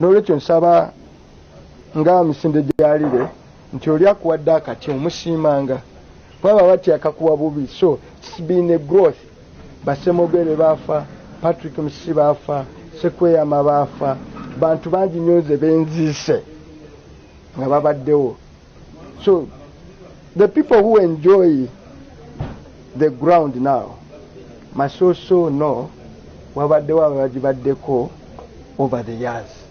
n'olwekyo nsaba nga misinde gyalire nti oli akuwadde akati omusiimanga baba batya akakuwa bubi so its been a growth basemogere baafa patrick musisi baafa sekweyama baafa bantu bangi nyo nze benziise nga babaddewo So the people who enjoy the ground now must also know wabaddewo abagibaddeko over the years.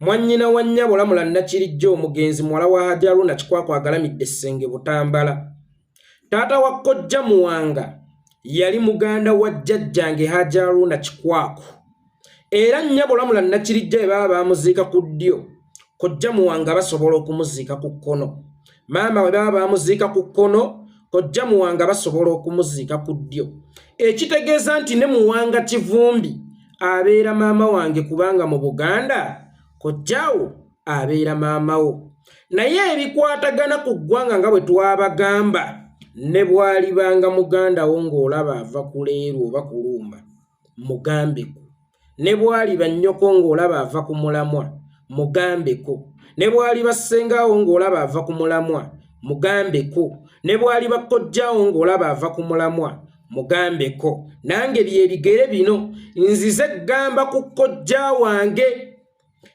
Mwannyina wa nnyabo Lamula Nakirijja omugenzi muwala wa Hajji Haruna Kikwakwa agalamidde Ssenge Butambala. Taata wa Kojja Muwanga yali muganda wa jjajjange Hajji Haruna Kikwakwa. Era nnyabo Lamula Nakirijja bwe baba baamuziika ku ddyo, Kojja Muwanga basobola okumuziika ku kkono. maama we baba bamuziika ku kkono kojja muwanga basobola okumuziika ku ddyo ekitegeeza nti ne muwanga kivumbi abeera maama wange kubanga mu buganda kojjawo abeera maama wo naye ebikwatagana ku ggwanga nga bwe twabagamba ne bwalibanga muganda wo ng'olaba ava kuleerwa oba kulumba mugambeko ne bwaliba nnyoko ng'olaba ava ku mulamwa mugambeko ne bwaliba ssengaawo ng'olaba ava ku mulamwa mugambeko ne bwaliba kojjawo ng'olaba ava ku mulamwa mugambeko nange byebigere bino nzize gamba ku kojja wange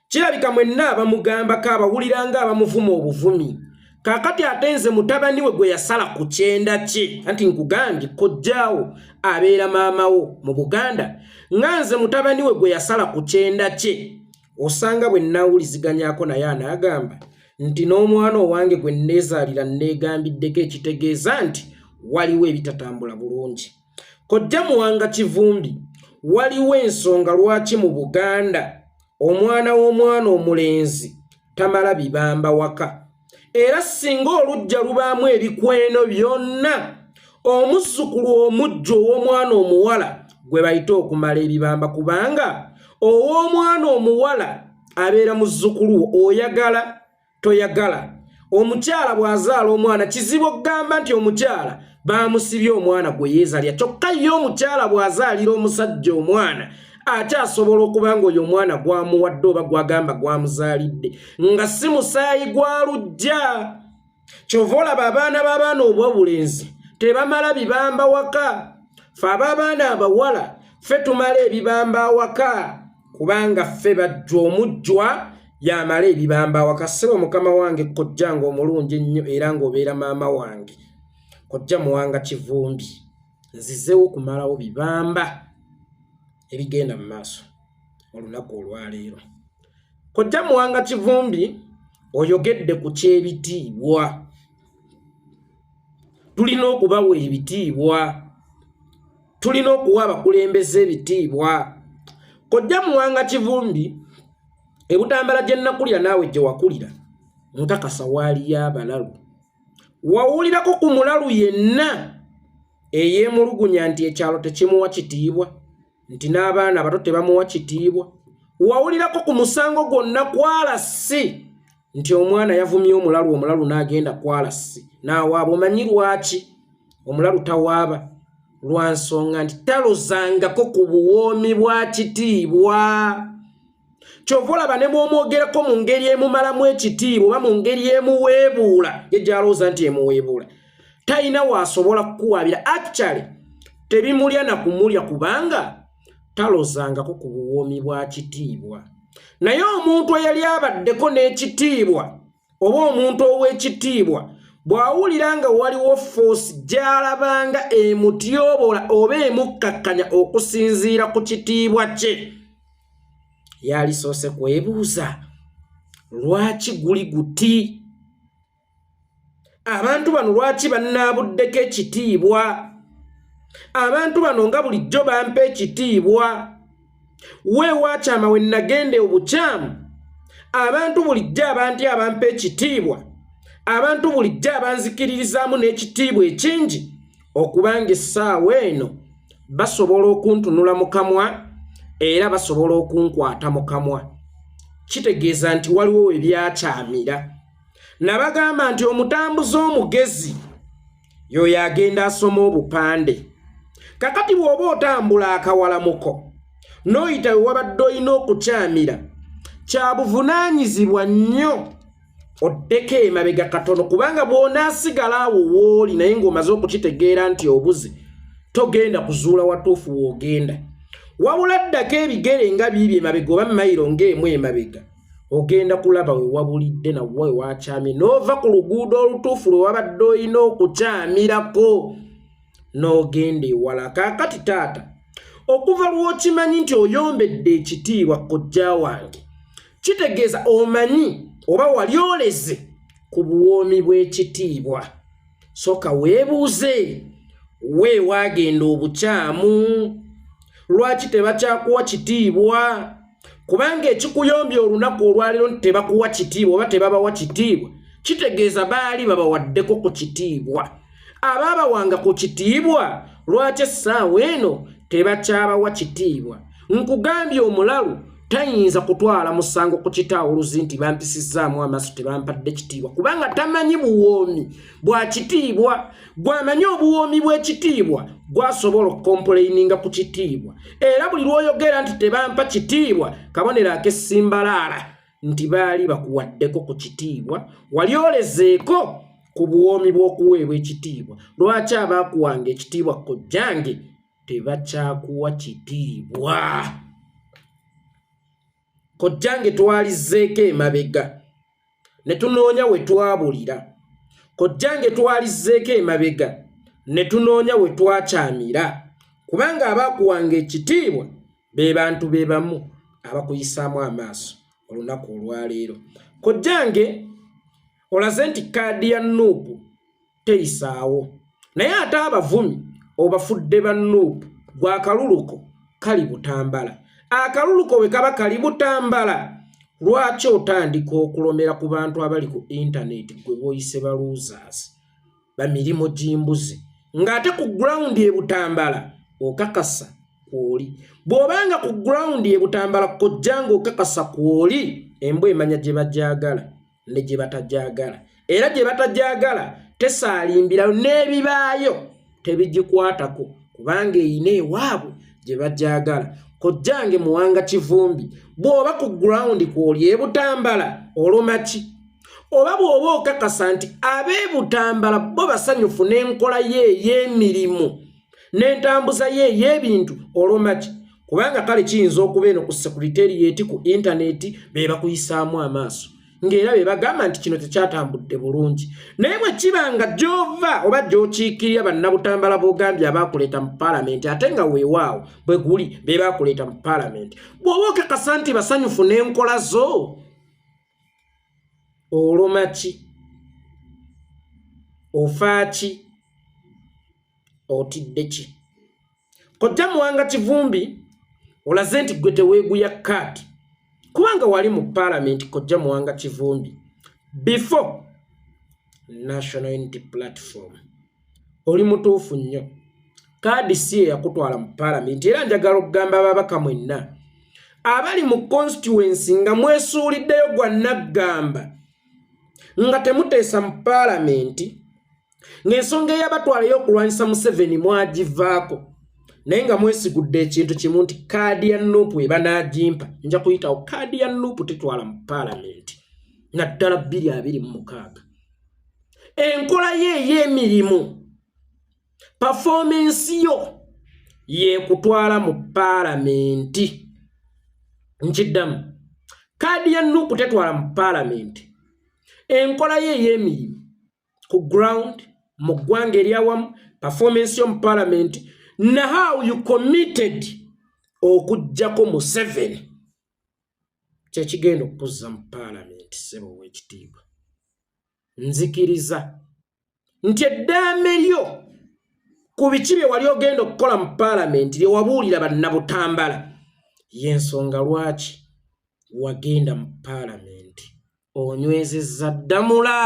kirabika mwenna abamugambako abawulira nga abamuvuma obuvumi kakati ate nze mutabani we gwe yasala ku kyenda kye anti nkugambye kojjaawo abeera maamawo mu buganda nga nze mutabani we gwe yasala ku kyenda kye osanga bwe nawuliziganyako naye anaagamba nti n'omwana owange gwe nneezaalira nneegambiddeko ekitegeeza nti waliwo ebitatambula bulungi Kojja Muwanga Kivumbi, waliwo ensonga lwaki mu Buganda omwana w'omwana omulenzi tamala bibamba waka. Era singa olujja lubaamu ebikweno byonna, omuzzukulu omujja ow'omwana omuwala gwe bayita okumala ebibamba kubanga ow'omwana omuwala abeera muzzukulu oyagala toyagala omukyala bw'azaala omwana kizibu okugamba nti omukyala baamusibye omwana gwe yeezalya kyokka ye omukyala bw'azaalira omusajja omwana ate asobola okuba nga oyo omwana gwamuwadde oba gwagamba gwamuzaalidde nga si musaayi gwa lujja kyova olaba abaana b'abaana obwobulenzi tebamala bibamba waka fe ab'abaana abawala fe tumala ebibamba awaka kubanga ffe bajja omujjwa yamala ebibamba awakasebo mukama wange kojja nga omulungi ennyo era ng'obeera maama wange kojja muwanga kivumbi nzizewo kumalawo bibamba ebigenda mu maaso olunaku olwaleero kojja muwanga kivumbi oyogedde ku kyebitiibwa tulina okubawa ebitiibwa tulina okuwa abakulembeze ebitiibwa kojja muwanga kivumbi ebutambala gye nnakulira naawe gye wakulira nkakasa waaliyo abalalu wawulirako ku mulalu yenna eyeemulugunya nti ekyalo tekimuwa kitiibwa nti n'abaana abato tebamuwa kitiibwa wawulirako ku musango gwonna kwala si nti omwana yavumye omulalu omulalu n'agenda kwalasi n'awaaba omanyi lwaki omulalu tawaaba lwa nsonga nti talozangako ku buwoomi bwa kitiibwa kyova olaba ne bw'omwogerako mu ngeri emumalamu ekitiibwa oba mu ngeri emuweebuula ye gyalowooza nti emuweebuula talina waasobola kukuwaabira actually tebimulya na kumulya kubanga talozangako ku buwoomi bwa kitiibwa naye omuntu eyali abaddeko n'ekitiibwa oba omuntu ow'ekitiibwa bw'awulira nga waliwo foosi gy'alabanga emutyobola oba emukkakkanya okusinziira ku kitiibwa kye yalisoose kwebuuza lwaki guli guti abantu bano lwaki bannaabuddeko ekitiibwa abantu bano nga bulijjo bampa ekitiibwa weewaakyama we nnagenda obukyamu abantu bulijjo abantu abampa ekitiibwa abantu bulijjo abanzikiririzaamu n'ekitiibwa ekingi okubanga essaawa eno basobola okuntunula mu kamwa era basobola okunkwata mu kamwa kitegeeza nti waliwo we byakyamira nabagamba nti omutambuze omugezi yoyo agenda asoma obupande kakati bw'oba otambula akawalamuko n'oyita we wabadde olina okukyamira kya buvunaanyizibwa nnyo oddeko emabega katono kubanga bw'onaasigala awo wooli naye ng'omaze okukitegeera nti obuze togenda kuzuula watuufu w'ogenda wabula ddako ebigere nga biibi emabega oba mayiro ng'emu emabega ogenda kulaba we wabulidde nawe wakyamye n'ova ku luguudo olutuufu lwe wabadde olina okukyamirako n'ogenda ewala kaakati taata okuva lw'okimanyi nti oyombedde ekitiibwa kojja wange kitegeeza omanyi oba wali oleze ku buwoomi bw'ekitiibwa soka weebuuze we waagenda obukyamu lwaki tebakyakuwa kitiibwa kubanga ekikuyombya olunaku olwaliro nti tebakuwa kitiibwa oba tebabawa kitiibwa kitegeeza baali babawaddeko ku kitiibwa abaabawanga ku kitiibwa lwaki essaawa eno tebakyabawa kitiibwa nkugambye omulalu tayinza kutwala musango ku kitaawuluzi nti bampisizzaamu amaaso tebampadde kitiibwa kubanga tamanyi buwoomi bwa kitiibwa gwamanyi obuwoomi bw'ekitiibwa gwasobola okukompuleininga ku kitiibwa era buli lwoyogera nti tebampa kitiibwa kabonero akesimbalaala nti baali bakuwaddeko ku kitiibwa wali olezeeko ku buwoomi bw'okuweebwa ekitiibwa lwaki abaakuwanga ekitiibwa kojjange tebakyakuwa kitiibwa kojjange twalizzeeko emabega ne tunoonya we twabulira kojjange twalizzeeko emabega ne tunoonya we twakyamira kubanga abaakuwanga ekitiibwa be bantu be bamu abakuyisaamu amaaso olunaku olwaleero kojjange olaze nti kaadi ya nuupu teyisaawo naye ate abavumi obafudde ba nup gwe akaluluko kali butambala akaluluko we kaba kali butambala lwaki otandika okulomera ku bantu abali ku intaneti gwe boyise baluusers bamirimu gimbuzi ng'ate ku gurawundi ebutambala okakasa kwoli bw'obanga ku gurawundi ebutambala kojja ng'okakasa kwoli embwa emanya gye bagyagala ne gye batagyagala era gye batagyagala tesaalimbirayo n'ebibaayo tebigikwatako kubanga eyina ewaabwe gye bagyagala kojjange muwanga kivumbi bw'oba ku gurawundi kw'oli ebutambala olumaki oba bw'oba okakasa nti ab'ebutambala bo basanyufu n'enkola ye ey'emirimu n'entambuza ye ey'ebintu olumaki kubanga kale kiyinza okuba eno ku sekuriteriyeti ku intaneti be bakuyisaamu amaaso ng'era be bagamba nti kino tekyatambudde bulungi naye bwe kiba nga gy'ova oba gy'okiikirira bannabutambala b'ogambye abaakuleeta mu palamenti ate nga weewaawo bwe guli be baakuleeta mu palamenti bw'oba okakasa nti basanyufu n'enkola zo olumaki ofaaki otidde ki kojja muwanga kivumbi olaze nti gwe teweeguya kaati kubanga wali mu paalamenti kojja muwanga kivumbi before national unity platform oli mutuufu nnyo kaadi si eyakutwala mu paalamenti era njagala okugamba ababaka mwenna abali mu constituency nga mwesuuliddeyo gwa naggamba nga temuteesa mu paalamenti ng'ensonga eyabatwala ey'okulwanyisa museveni mwagivaako naye nga mwesigudde ekintu kimu nti kaadi ya nuupu ebanagimpa nja kuyitawo kaadi ya nuupu tetwala mu paalamenti naddala bbiri abiri mu mukaaga enkola ye ey'emirimu pafoomensi yo yekutwala mu paalamenti nkiddamu kaadi ya nuupu tetwala mu paalamenti enkola ye ey'emirimu ku ground mu ggwanga eryawamu performance yo mu palamenti na how you committed okugyako museven kyekigenda okukuzza mu palamenti sebo wekitiibwa nzikiriza nti eddaame lyo ku biki bye wali ogenda okukola mu palamenti lyewabuulira bannabutambala yensonga lwaki wagenda mu palamenti onywezezza ddamula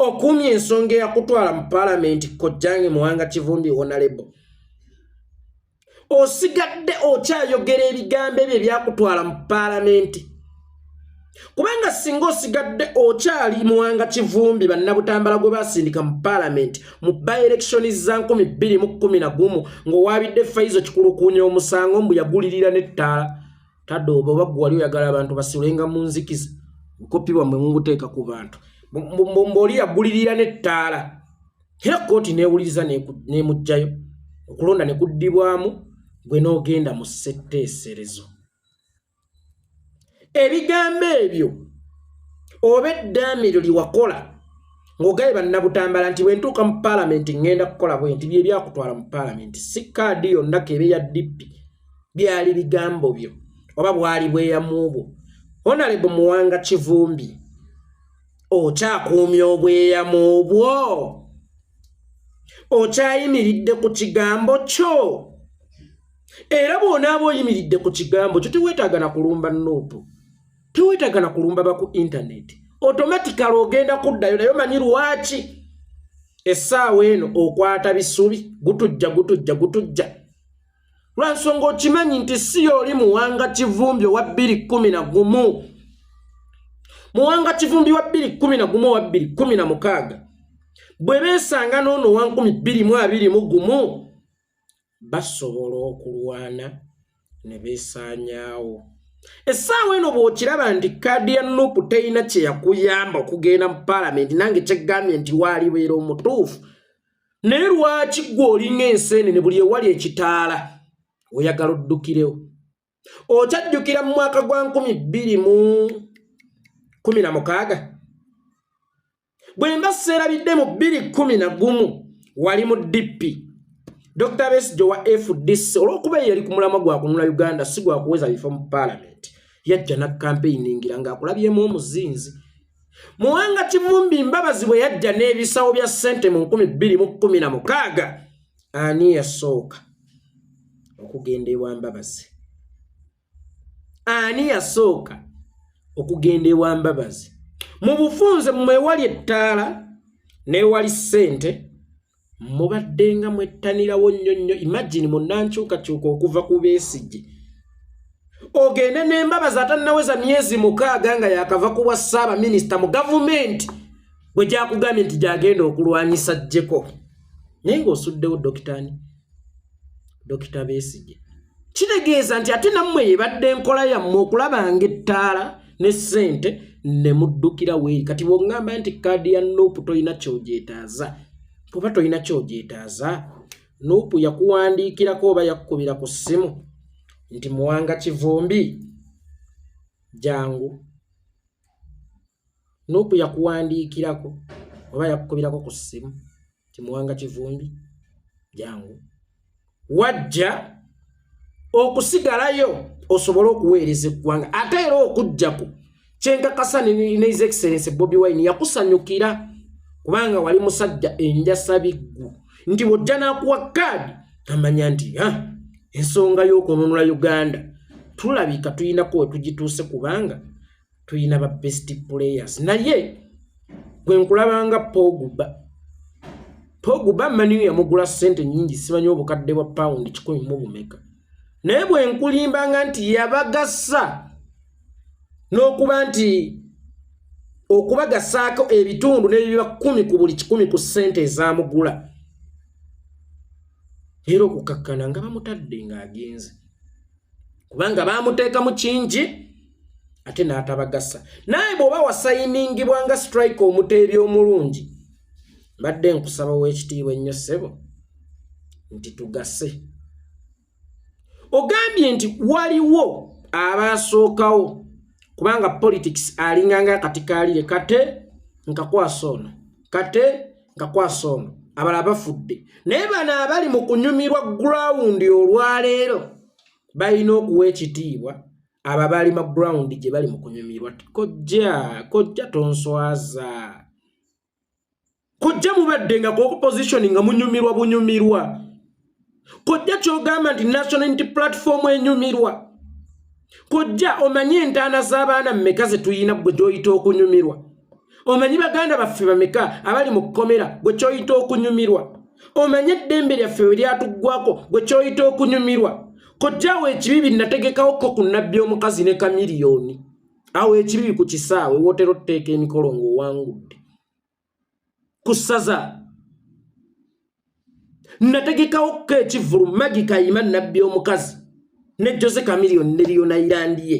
okuumya ensonga eyakutwala mu palamenti kojjange muwanga kivumbi onalebo osigadde okyayogera ebigambo ebyo ebyakutwala mu palamenti kubanga singa osigadde okyali muwanga kivumbi bannabutambala gwe basindika mu palamenti mu baelekishoni za 211 ng'owaabidde faizo kikulukuunya omusango mbu yagulirira n'ettaala tadde oba oba gwe wali oyagala abantu basulenga mu nzikiza nkopi bwamwe munguteeka ku bantu mbooli yagulirira n'ettaala era kkooti neewuliriza nemuggyayo okulonda ne kuddibwamu gwe n'ogenda mu ssetteeserezo ebigambo ebyo oba eddaami eryo lyewakola ng'ogaye bannabutambala nti bwentuuka mu paalamenti ŋŋenda kukola bwe nti byebyakutwala mu paalamenti si kaadi yonna keebe ya dippi byali bigambo byo oba bwali bweyamu bwo honalebo muwanga kivumbi okyakuumya obweyamu bwo okyayimiridde ku kigambo kyo era bwonaaba oyimiridde ku kigambo kyo teweetaaga na kulumba nuupu teweetaaga na kulumba baku intaneti otomatikala ogenda kuddayo naye omanyi lwaki essaawa eno okwata bisubi gutujja gutujja gutujja lwansonga okimanyi nti si yooli muwanga kivumbi owa bbiri kumi na gumu muwanga kivumbi wa bbiri kumi na gumu owa bbiri kumi na mukaaga bwe beesanga n'ono wa nkumi bbiri mu abiri mu gumu basobola okulwana ne beesaanyaawo essaawa eno bw'okiraba nti kaadi ya nupu terina kye yakuyamba okugenda mu paalamenti nange kyegambye nti waalibeera omutuufu naye lwaki gwe olinga enseenene buli ewali ekitaala oyagala oddukirewo okyajjukira mu mwaka gwa nkumi bbiri mu kumi na mukaaga bwe mba seerabidde mu bbiri kumi na gumu wali mu dippi dr besijo wa fdc olw'okuba eyo yali ku mulamwa gwa kunula uganda si gwa kuweza bifo mu paalamenti yajja na kampeyini ngira ng'akulabyemu omuzinzi Muwanga Kivumbi Mbabazi bwe yajja n'ebisawo bya ssente mu nkumi bbiri mu kkumi na mukaaga ani yasooka okugenda ewa Mbabazi? Ani yasooka okugenda ewa Mbabazi? Mu bufunze mwewali ettaala n'ewali ssente. mubaddenga mwettanirawo nnyo nnyo imagine munankyukakyuka okuva ku besigye ogende n'embabazi atannaweza myezi mukaaga nga yakava ku bwa ssaabaminisita mu gavumenti bwe gyakugambye nti gyagenda okulwanyisa jjeko naye ng'osuddewo dokitaani dokita besigye kitegeeza nti ate nammwe yebadde enkola yammwe okulaba nga ettaala ne ssente ne muddukira weeri kati bwongamba nti kaadi ya nuupu tolina kyogyetaaza oba tolina kyogyetaaza nuupu yakuwandiikirako oba yakukubira ku ssimu nti muwanga kivumbi jangu nupu yakuwandiikirako oba yakukubirako ku ssimu kimuwanga kivumbi jangu wajja okusigalayo osobole okuweereza eggwanga ate era okujjako kyenkakasa nehis excellence bobi wine yakusanyukira kubanga wali musajja enjasabiggu nti bwojja nakuwa kaadi amanya nti ensonga y'okununula uganda tulabika tulinako wetugituuse kubanga tulina ba best players naye gwe nkulabanga poguba poguba maniyo yamugula sente nyingi simanyi obukadde bwa pound kikumi mu bumeka naye bwe nkulimbanga nti yabagasa n'okuba nti okubagasaako ebitundu n'ebiba kumi ku buli kikumi ku sente ezamugula era okukakkana nga bamutadde ng'agenze kubanga baamuteekamu kingi ate n'atabagasa naye bw'oba wasayiningibwa nga strike omuteebi omulungi mbadde nkusaba w'ekitiibwa ennyo ssebo nti tugase ogambye nti waliwo abaasookawo kubanga politics alinganga akati kaalire kate nkakwasa ono kate nga kwasa ono abala bafudde naye bano abali mu kunyumirwa gurawundi olwaleero balina okuwa ekitiibwa abo abaali ma gurawundi gye bali mu kunyumirwa kojja kojja tonswaza kojja mubadde nga kuopposition nga munyumirwa bunyumirwa kojja kyogamba nti national unity platform enyumirwa kojja omanyi entaana z'abaana mumeka zetuyina gwe gyoyita okunyumirwa omanyi baganda baffe bameka abali mu kkomera gwe kyoyita okunyumirwa omanyi eddembe lyaffe we lyatuggwako gwe kyoyita okunyumirwa kojjaawo ekibi binnategekawoko ku nabbi omukazi ne kamiliyoni awo ekibibi ku kisaawe wotera otuteeka emikolo ng'owangudde ku ssaza nategekawo ko ekivulu magi kayima nabbi omukazi ne jose kamiliyoni ne liyona irandiye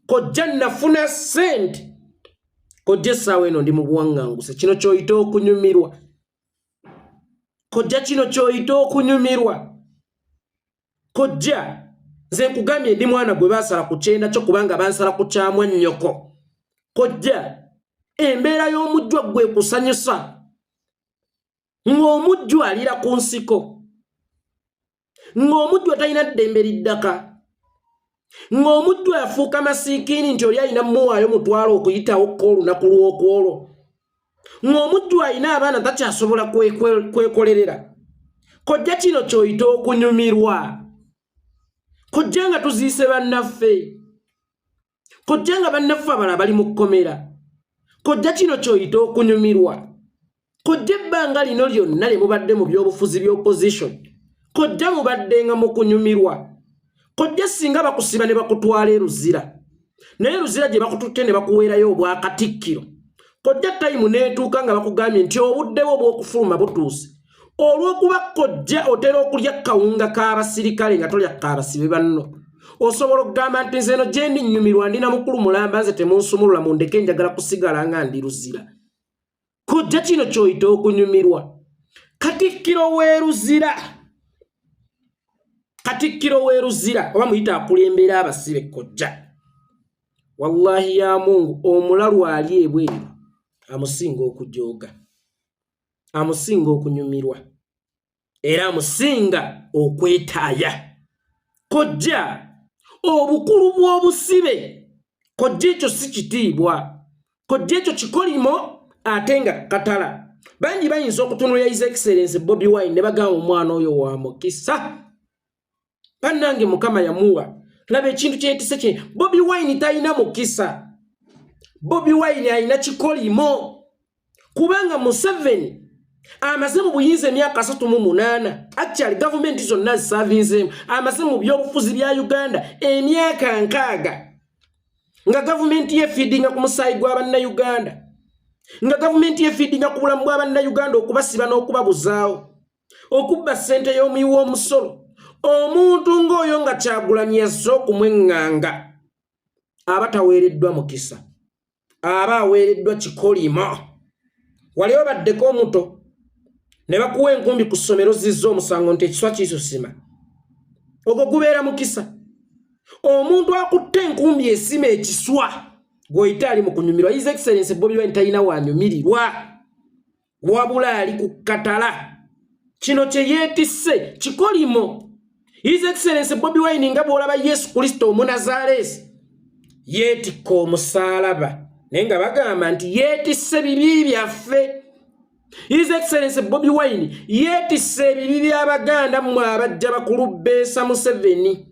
kojja nafuna sente kojja essaawa eno ndi mu buwaŋŋanguse kino kyoyita okunyumirwa kojja kino kyoyita okunyumirwa kojja nze nkugambye ndi mwana gwe baasala ku kyenda kyo kubanga bansala ku kyamwa nnyoko kojja embeera y'omujjwa gwe kusanyusa ng'omujjwa alira ku nsiko ng'omujjwa talina ddembe liddaka ng'omuddu afuuka masiikiini nti oli alina muwaayo mutwalo okuyitawo ko olunaku lw'okwolwo ng'omuddu alina abaana takyasobola kwekolerera kojja kino kyoyita okunyumirwa kojja nga tuziise bannaffe kojja nga bannaffe abala bali mu kkomera kojja kino kyoyita okunyumirwa kodde ebbanga lino lyonna lye mubadde mu byobufuzi by'opposition kodde mubadde nga mu kunyumirwa kodde singa bakusiba ne bakutwala eruzira naye eruzira gye bakututte ne bakuweerayo obwakatikkiro kodde tayimu n'etuuka nga bakugambye nti obuddewo obw'okufuluma butuuse olw'okuba kojja otera okulya kawunga k'abasirikale nga tolya kaabasibe banno osobola okugamba nti nze eno gyendi nnyumirwa ndi na mukulu mulamba nze temunsumulula mundeke njagala kusigala nga ndi luzira kojja kino kyoyita okunyumirwa katikkiro weruzira katikkiro weruzira oba muyita akulembera abasibe kojja wallahi ya mungu omulalu ali ebweru amusinga okujooga amusinga okunyumirwa era amusinga okwetaaya kojja obukulu bw'obusibe kojja ekyo si kitiibwa kojja ekyo kikolimo ate nga katala bangi bayinza okutunulira his excellence bobi wine ne bagamba omwana oyo wa mukisa banange mukama yamuwa laba ekintu kyetise kye bobi wine talina mukisa bobi wine alina kikolimo kubanga museveni amaze mu buyinza emyaka asatu mu munaana actually gavumenti zonna zisavinzeemu amaze mu byobufuzi bya uganda emyaka nkaaga nga gavumenti yefiidinga ku musaayi gwa bannayuganda nga gavumenti yefiidinga ku bulamu bwa bannayuganda okubasiba n'okubabuzaawo okubba ssente y'omuyi w'omusolo omuntu ng'oyo nga kyagulanyi yazze okumweŋŋanga aba taweereddwa mukisa aba aweereddwa kikolimo wali obaddeko omuto ne bakuwa enkumbi ku ssomero zizza omusango nti ekiswa kisusima ogwo gubeera mukisa omuntu akutte enkumbi esima ekiswa gwoyita ali mu kunyumirwa his excellence bobi wine talina wanyumirirwa wabula ali ku katala kino kye yeetisse kikolimo his excellence bobi wine nga bw'olaba yesu kristo omunazaaleesi yeetikka omusaalaba naye nga bagamba nti yeetisse bibi byaffe His Excellency Bobby Wine yeetisse ebibi by'Abaganda mmwe abajja bakulu beesa Museveni.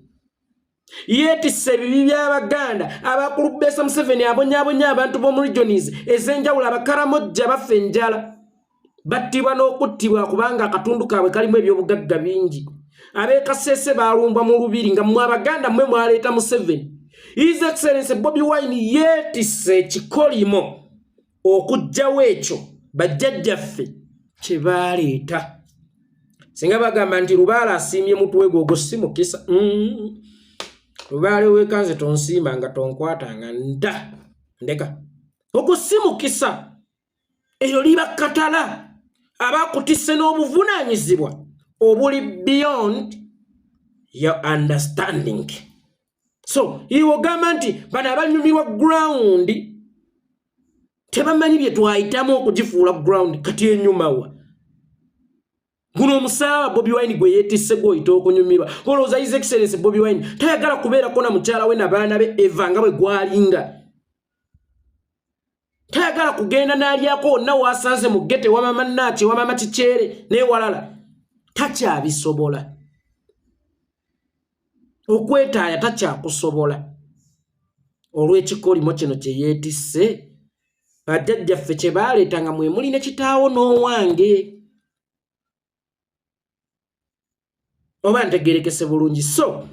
yeetisse ebibi by'abaganda abakulu besa museveni abonyabonya abantu b'omu regionis ez'enjawulo abakaramojja baffe enjala battibwa n'okuttibwa kubanga akatundu kaabwe kalimu ebyobugagga bingi ab'ekasese balumbwa mu lubiri nga mwe abaganda mwe mwaleeta museveni his excellence bobi wine yeetisse ekikolimo okujjawo ekyo bajjajjaffe kye baaleeta singa bagamba nti lubaale asiimye mutwe gwe ogwo si mukisa mm. lubaale wekanze tonsiima nga tonkwata nga nda ndeka ogwo si mukisa eryo liba katala abakutise n'obuvunaanyizibwa obuli beyond your understanding so iwogamba nti bano abanyumirwa ground tebamanyi bye twayitamu okugifuula ground kati enyumawa guno omusaaba bobi wine gwe yetisse gwoyita okunyumirwa olowooza his excellence bobi wine tayagala kubeerako na mukyala we nabaana be eva nga bwe gwalinga tayagala kugenda n'alyako wonna waasanze mu gete wamama naaki wamama kikyere newalala takyabisobola okwetaaya takyakusobola olw'ekikolimo kino kye yeetisse bajjajjaffe kye baaleeta nga mwe muli ne kitaawo n'owange oba ntegerekese bulungi so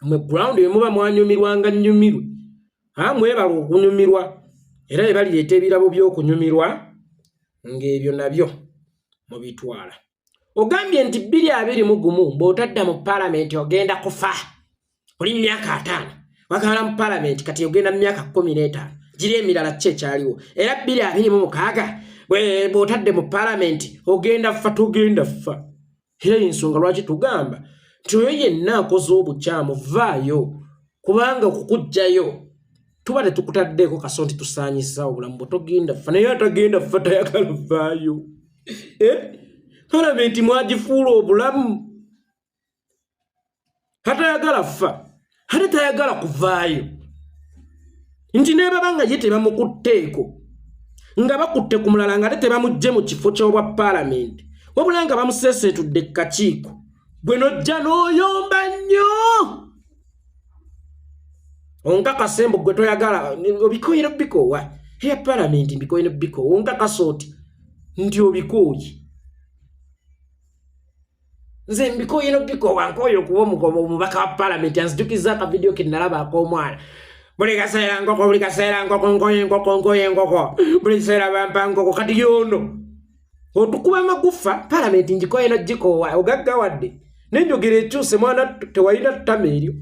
mwe ground emuba mwanyumirwanga nyumirwe ha mwebala okunyumirwa era ebalireeta ebirabo by'okunyumirwa ng'ebyo nabyo mubitwala ogambye nti bbiri abiri mu gumu bw'otadda mu palamenti ogenda kufa oli myaka ataano wakala mu palamenti kati ogenda mu myaka kumi n'etaano giri emirala ki ekyaliwo era bbiri abiri mu mukaaga bw'otadde mu palamenti ogenda ffa tugenda ffa era yensonga lwaki tugamba nti oyo yenna akoze obukyamu vaayo kubanga okukugjayo tuba tetukutaddeeko kaso nti tusaanyisa obulamu bwe togenda ffa naye atagenda ffa tayagala vaayo eh? palamenti mwagifuula obulamu hatayagala fa hata tayagala kuvaayo nti nebaba nga ye tebamukutteeko nga bakutte ku mulala nga ate tebamujje mu kifo ky'obwa paalamenti wabula nga bamuseeseetudde kakiiko gwe nojja n'oyomba nnyo onkakase mbu gwe toyagala obikoyire bikoowa eya paalamenti mbikoyire bikoowa onkakasa oti nti obikooyi nze mbikoye no bikowa nkoye okuba omugoba omubaka wa palamenti anzijukiza akavidiyo ke nalaba ak'omwana buli kaseera nkoko buli kaseera nkoko nkoye enkoko nkoye enkoko buli kiseera bampa nkoko kati yono otukuba amagufa palamenti ngikoye no gikowa ogaggawadde nenjogera ekyuse mwana tewalina ttama eryo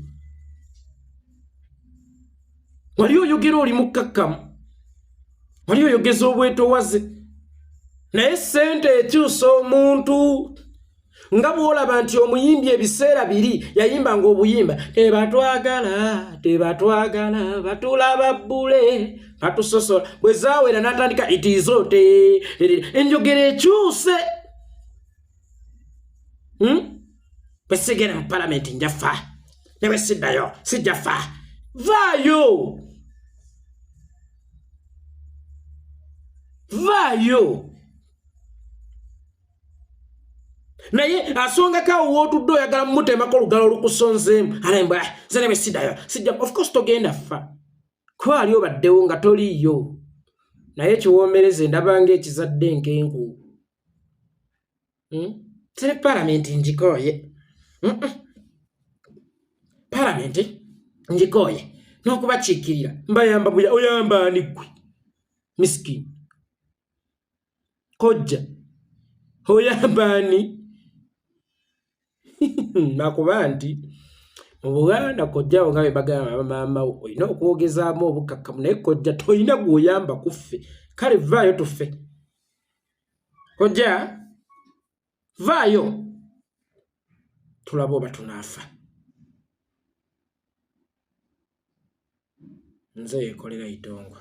wali oyogera oli mukkakkamu wali oyogeza obwetowaze naye sente ekyusa omuntu nga bwolaba nti omuyimbi ebiseera biri yayimba nga obuyimba tebatwagala tebatwagala batulaba bbule batusosola bwe zawera natandika itizote enjogera ekyuse hmm? bwe sigenda mu palamenti nja fa ne bwe siddayo sijja fa vaayo vaayo naye asongako awo wootudde oyagala mumutemako olugalo olukusonzeemu alembwa ah, ze ne bwe siddayo sijja of course togenda fa kuba ali obaddewo nga toliiyo naye kiwoomereze ndabanga ekizadde enkenku Hmm? Siri palamenti njikooye. Mm -mm. Palamenti njikooye. N'okubakiikirira. Mbayamba buya oyamba ani ggwe. Misikini. Kojja. Oyamba ani. Nakuba nti. Mu Buganda kojja wo nga be bagamba bamaama wo olina okwogezaamu obukakkamu naye kojja tolina gw'oyamba kuffe. Kale vvaayo tuffe. kojja vaayo tulaba oba tunaafa nze yekolera itongwa